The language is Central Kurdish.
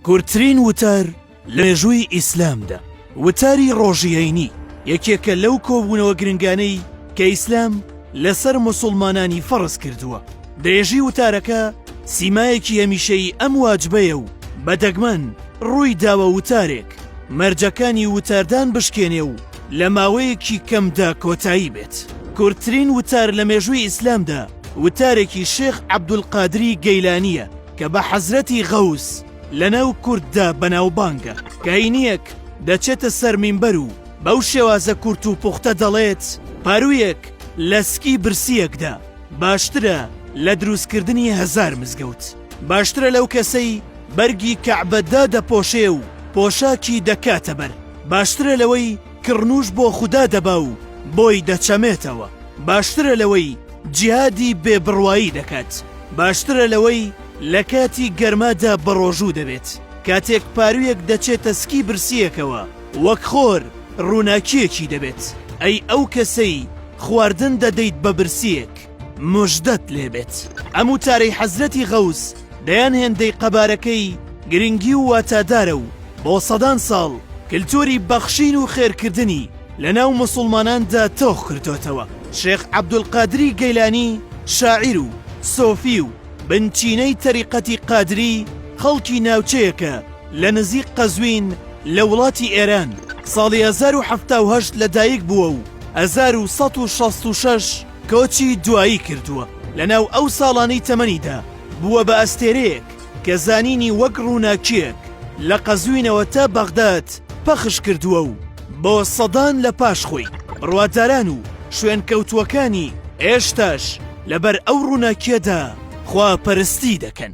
کورتترین وتار لە مێژووی ئیسلامدا وتاری ڕۆژیینی یەکێکە لەو کۆبوونەوە گرنگانەی کە ئیسلام لەسەر مسلمانانی فەڕز کردووە دەێژی وتارەکە سیمایەکی هەمیشەی ئەم واجبەیە و بە دەگمەن ڕووی داوە وتارێک مەرجەکانی وتاردان بشکێنێ و لە ماوەیەکی کەمدا کۆتایی بێت کورتترین وتار لە مێژووی ئیسلامدا وتارێکی شێخ عبدول قادری گەیلانە کە بە حەزرەتی غەوس لەناو کورددا بەناوبانگە، کەینیەک دەچێتە سەر مینبەر و بەو شێوازە کورت و پوختە دەڵێت، پارویەک لە سکی برسیەکدا باشترە لە دروستکردنی هەزار مزگەوت، باشترە لەو کەسەی بەرگی کەعبە دادەپۆشێ و پۆشاکی دەکاتە بەر، باشترە لەوەی کڕنووش بۆ خودا دەبا و بۆی دەچەمێتەوە، باشترە لەوەی جیهادی بێ بڕوایی دەکات، باشترە لەوەی لە کاتی گەرمادا بەڕۆژوو دەبێت، کاتێک پارویەک دەچێتە سکی برسییەکەوە وەک خۆر ڕووناکییەکی دەبێت، ئەی ئەو کەسەی خواردن دەدەیت بە برسییەک؟ مژدەت لێبێت ئەم وتارەی حەزرەتی غەوس دەیان هێندەی قەبارەکەی گرنگی و واتادارە و بۆ سەدان ساڵ کلتوری بەخشین و خێرکردنی لە ناو موسوڵماناندا تۆخ کردۆتەوە شێخ عەبدولقادری گەیلانی شاعیر و سۆفی و بنچینەی تەریقەتی قادری خەڵکی ناوچەیەکە لە نزیک قەزوین لە وڵاتی ئێران ساڵی هەزار و حەفتا و هەشت لە دایک بووە و هەزار و سەد و شەست و شەش کۆچی دوایی کردووە، لەناو ئەو ساڵانەی تەمەنیدا بووە بە ئەستێرەیەک کە زانینی وەک ڕووناکییەک لە قەزوینەوە تا بەغداد پەخش کردووە و بۆ سەدان لە پاش خۆی بڕواداران و شوێنکەوتووەکانی ئێشتاش لەبەر ئەو ڕووناکییەدا خواپەرستی دەکەن.